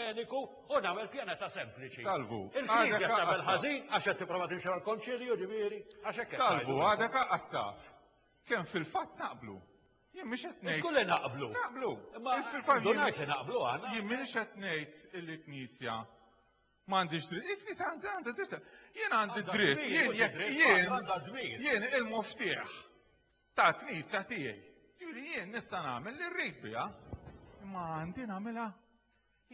mediku u nagħmel pjaneta sempliċi. Salvu. Il-knisja tagħmel ħażin għax qed tipprova timxi mal-konċilju ġifieri għax hekk. Salvu għadek qattaf. Kemm fil-fatt naqblu. Jien mhix qed ngħid. Kulli naqblu. Naqblu. Imma fil-fatt ngħid naqblu għandna. Jien mhix qed ngħid il-knisja m'għandix dritt. Il-knisja għandha dritt. Jien għandi dritt. Jien jien jien il-muftieħ. tal-Knisja tiegħi. Ġifieri jien nista' nagħmel li rrid biha, imma għandi nagħmilha.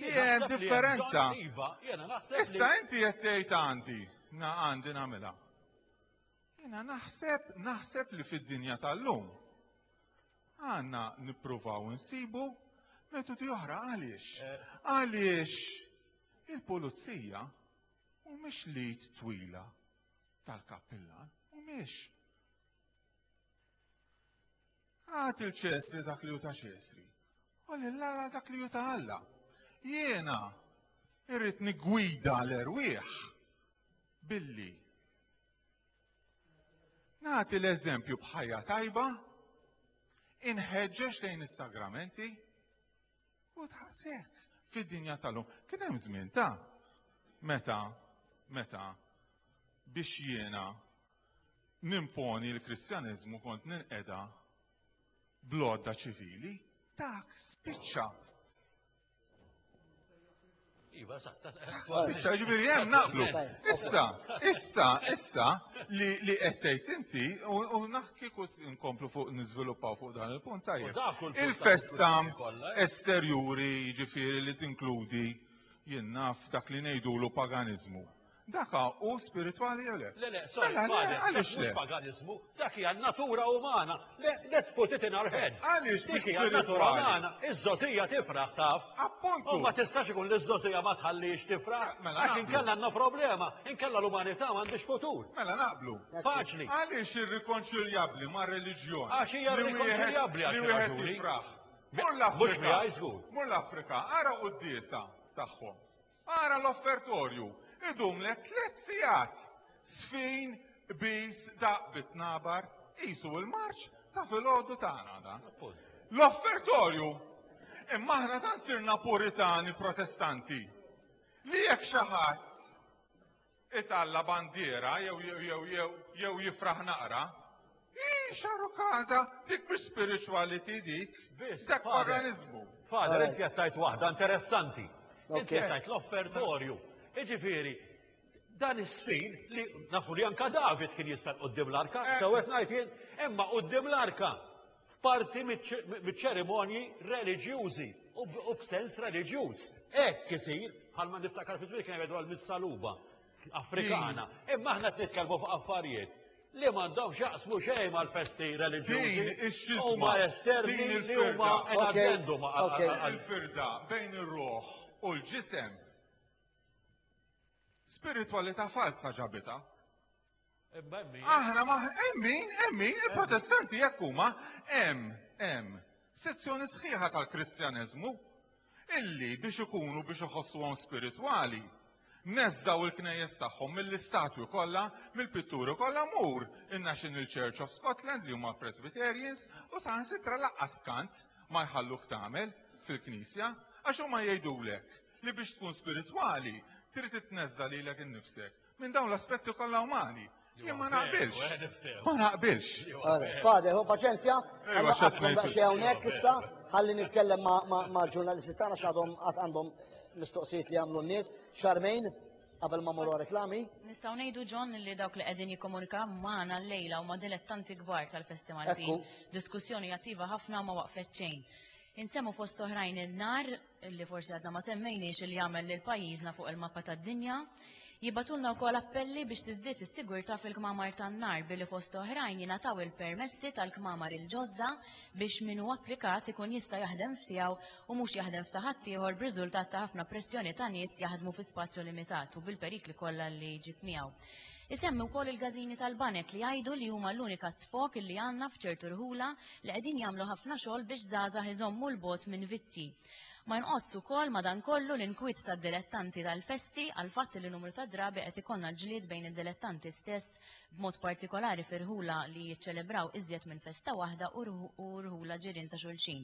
Jien differenza. Iva, Issa inti qed tgħid għandi, għandi nagħmilha. Jiena naħseb, naħseb li fid-dinja tal-lum għandna nippruvaw insibu metodi oħra għaliex. Eh. Għaliex il-pulizija mhumiex lid twila tal-kappillan, mhumiex. Għat il-ċesri dak li juta ċesri. U l-lala dak li juta għalla. Jena irrit nigwida l-erwieħ billi. Nati l-eżempju bħajja tajba, inħeġġeġ lejn is-sagramenti, U tħassek fid-dinja tal-lum. Kien hemm żmien ta' meta meta biex jiena nimponi l-Kristjaneżmu kont ninqeda blodda ċivili, dak spiċċa. Iva, sa, Issa, ġifieri hemm naqblu. Issa, issa, issa li li qed tgħid inti u u naħ kieku nkomplu fuq niżviluppaw fuq dan il-punt U tajjeb. dak kull punt Il-festa tal-diskussjoni kollha, eh? esterjuri jiġifieri li tinkludi jien naf dak li ngħidulu paganiżmu. Daka hu spiritwali jew le? Le, le, sorry, Mela, le, father, għaliex dak mhux le? paganizmu, dak hija natura umana. Le, let's put it in our heads. Għaliex Dik mhux hija natura spiritwali? umana. Iż-żogħżija tifraħ taf. Appuntu. U ma tistax ikun li ż-żogħżija ma tħallix tifraħ. Mela, Għax naqblu. inkella għandna problema, inkella l-umanità m'għandhiex futur. Mela naqblu. Faċli. Għaliex irrikonċiljabbli ma' reliġjon? Għax hija li wieħed- irrikonċiljabbli għal Li xi wieħed raġuni. jifraħ. Mur Mhux l-Afrika. miegħi żgur. Mur l-Afrika, ara quddiesa tagħhom. Ara l-offertorju, idumlek tliet sigħat, sfin qbiż daqq bit-tnabar, qisu l-marċ ta' filgħodu tagħna dan. L-offertorju! Imma aħna tant sirna Puritani Protestanti li jekk xi ħadd Italla' bandiera jew jew jew jew jew jifraħ naqra. Ih, xaru każa, dik mhix spirituality dik. Biss, Dak Father. paganiżmu. Father, Alright. inti qed tgħid waħda interessanti. Inti Okay. qed tgħid l-offertorju. Jiġifieri, dan is-sfin li nafu li anka David kien jista' qudiem l-arka, Eh. sew qed ngħid jien, imma qudiem l-arka f'parti miċ-ċerimonji reliġjużi u b'sens reliġjuż. Hekk isir, bħalma niftakar fi żmien kien jgħidu għal missaluba Afrikana. Imma aħna qed nitkellmu fuq affarijiet li m'għandhomx jaqsmu xejn mal-festi reliġjużi. Huma esterni li huma enaġendu ma' il-firda bejn ir-ruħ u l-ġisem. Spiritwalità falsa ġabita. Aħna ma hemm min, hemm min, il-protestanti jekk huma hemm hemm sezzjoni sħiħa tal-Kristjaneżmu illi biex ikunu biex iħossuhom spiritwali neżżaw il-knejjes tagħhom mill-istatwi kollha, mill-pitturi kollha mur in-National Church of Scotland li huma Presbyterians u saħansitra laqqas kant ma jħalluk tagħmel fil-Knisja għax huma jgħidulek li biex tkun spiritwali trid titneżża lilek innifsek minn dawn l-aspetti kollha umani. Jien ma naqbilx. Ma naqbilx. Fade, ho paċenzja, għamma għafna daċċi għawnek issa, għalli nitkellem ma' ġurnalisti tana xadhom għandhom mistoqsijiet li għamlu n-nis, xarmejn, qabel ma morru reklami. Nistaw nejdu ġon li dawk li qegħdin jikkomunika magħna l-lejla u ma' dilettanti kbar tal-festival. Diskussjoni jattiva ħafna ma waqfet ċejn. Insemmu fost oħrajn il-nar illi forsi għadna ma semmejniex illi jagħmel lil pajjiżna fuq il-mappa tad-dinja, jibgħatulna wkoll appelli biex tiżdied is-sigurtà fil-kmamar tan-nar billi fost oħrajn jingħataw il-permessi tal-kmamar il-ġodda biex min hu applikat ikun jista' jaħdem f'tiegħu u mhux jaħdem f'ta' ħaddieħor b'riżultat ta' ħafna pressjoni ta' nies jaħdmu fi spazju limitat u bil-perikli kollha li jġib miegħu. Isemmi wkoll il-każini tal-banek li jgħidu li huma l-unika sfog li għandna f'ċertu rħula li qegħdin jagħmlu ħafna xogħol biex żgħażagħ iżommu 'l bogħod minn vizzji. Ma jonqosx ukoll madankollu l-inkwiet tad-dilettanti tal-festi għall-fatt li numru ta' drabi qed ikollna l-ġlied bejn id-dilettanti stess b'mod partikolari f'irħula li jiċċelebraw iżjed minn festa waħda u rħula ġirien ta' xulxin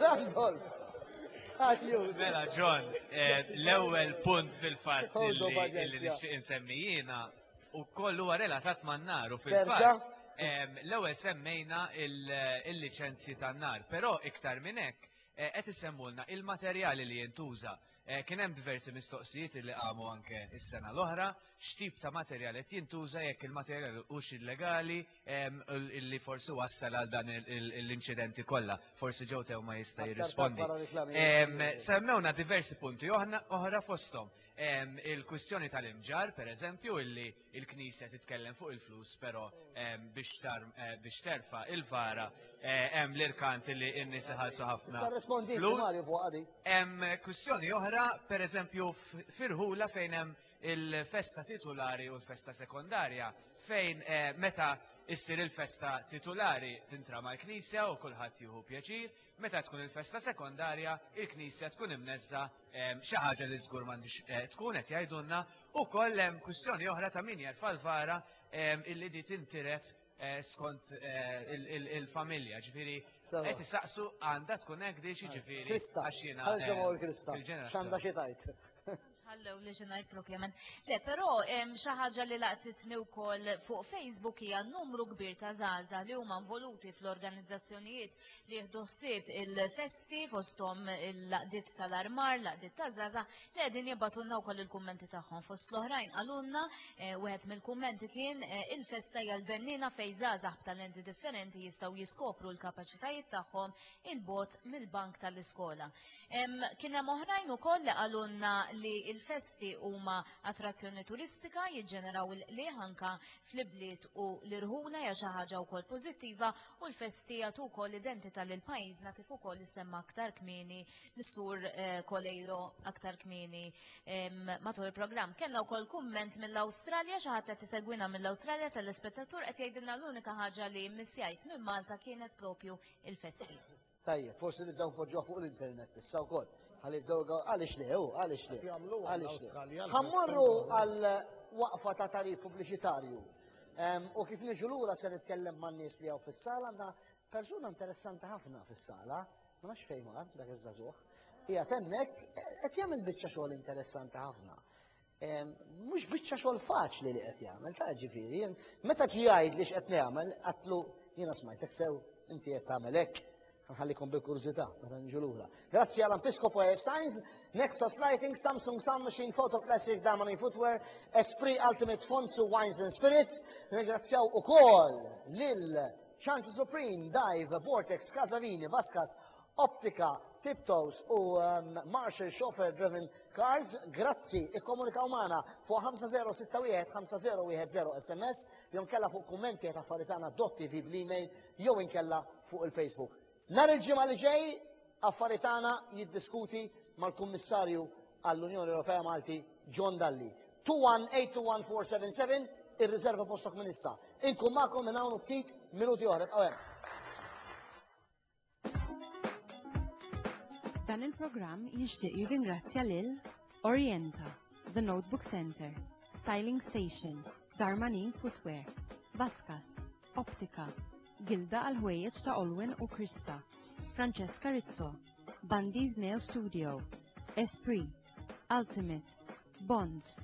Randolph! Mela, John, eh, l-ewwel punt fil-fatt li nixtieq insemmi jiena u kollu relatat man naru fil-fatt. L-ewwel semmejna il-liċenzji tan-nar, però iktar minn hekk eh, qed isemmulna il-materjali li jintuża. Eh, kien hemm diversi mistoqsijiet li qamu anke is-sena l-oħra, x'tip ta' materjal qed jintuża jekk il-materjal hux illegali ehm, li forsi wassal għal dan l-inċidenti kollha. Forsi ġew tew ma jista' jirrispondi. Ehm, semmewna diversi punti oħra fosthom ehm, il-kwistjoni tal-imġar, pereżempju, illi il-Knisja titkellem fuq il-flus, pero ehm, biex eh, terfa il-vara eh, hemm l-irkant li n-nies iħallsu ħafna. Hemm kwistjoni oħra, per eżempju, firħula fejn hemm il-festa titulari u l-festa sekondarja, fejn eh, meta issir il-festa titulari tintrama l-Knisja u kulħadd jieħu pjaċir, Meta tkun il-festa sekondarja, il-knisja tkun imneżża xi ħaġa li żgur m'għandix eh, tkun qed jgħidulna, ukoll hemm kwistjoni oħra ta' min jerfa' l-vara illi di tintiret eh, skont eh, il-familja, ġifieri qed isaqsu għandha tkun hekk di ġifieri għax jiena. Ħalġa ma' l-krista. X'għandha xi tajt? Ħallew li xi ngħid proprjament. Le, però hemm xi ħaġa li laqtitni wkoll fuq Facebook hija numru kbir ta' żgħażagħ li huma involuti fl-organizzazzjonijiet li jieħdu ħsieb il-festi fosthom il-laqdiet tal-armar, laqdiet ta' żgħażagħ li qegħdin jibgħatulna wkoll il-kummenti tagħhom. Fost l-oħrajn qalulna eh, wieħed mill-kummenti kien eh, il-festa hija l-bennina fejn żgħażagħ b'talenti differenti jistgħu jiskopru l-kapaċitajiet tagħhom il-bot mill-bank tal-iskola. Kien hemm oħrajn ukoll li qalulna li l-festi huma attrazzjoni turistika, jiġġeneraw il-qligħ anke fl-ibliet u l-irħula hija xi ħaġa wkoll pożittiva u l-festi jagħtu wkoll identità lil pajjiżna kif ukoll issemma aktar kmieni mis-Sur Coleiro aktar kmieni matul il-programm. Kellna wkoll kumment mill-Awstralja, xi ħadd qed isegwina mill-Awstralja telespettatur qed jgħidilna l-unika ħaġa li mmissjajt minn Malta kienet propju l-festi. Tajjeb, forsi nibdew npoġġuha fuq l-internet issa wkoll. Ħalli jibdew għaliex le, u għaliex le. Għaliex le. Ħammorru għal waqfa ta' tarif pubbliċitarju. U kif niġu lura se nitkellem man nies li hawn fis-sala għandna persuna interessanti ħafna fis-sala, ma nafx fejn mar dak iż-żagħżugħ. Hija tennek qed jagħmel biċċa xogħol interessanti ħafna. Mhux biċċa xogħol faċli li qed jagħmel, ta' ġifieri, meta ġi jgħid li x'qed nagħmel, qatlu jiena smajtek sew, inti qed tagħmel hekk, nħallikom bil-kurżità meta nġu lura. Grazzi għal Ampiscopo AF Signs, Nexus Lighting, Samsung Sound Machine, Photo Classic, Damani Footwear, Esprit Ultimate Fonts u Wines and Spirits. Ringrazzjaw ukoll lil Chanti Supreme, Dive, Vortex, Casavini, Vaskas Optika, Tiptoes u Marshall Chauffeur Driven Cars, grazzi, ikkomunikaw magħna fuq 5061 5010 SMS jew inkella fuq kummenti għet affari tagħna .tv bl-email jew inkella fuq il-Facebook. Nhar il-ġimgħa li ġej affari tagħna jiddiskuti mal-Kummissarju għall-Unjoni Ewropea Malti John Dalli. 2182147 irriserva postok minn issa. Inkun magħkom minn hawn u ftit minuti oħra. Bqgħu hemm. Dan il-programm jixtieq jirringrazzja lil Orienta, The Notebook Center, Styling Station, Darmanin Footwear, Vaskas, Optika, Gilda għal ħwejjeġ ta' Olwin u Krista, Francesca Rizzo, Bandi's Nail Studio, Esprit, Ultimate, Bonds,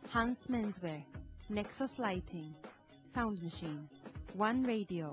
Hans Menswear, Nexus Lighting, Sound Machine, One Radio,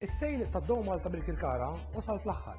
Is-sejl ta' Dow Malta bil-Kirkara wasal fl-aħħar.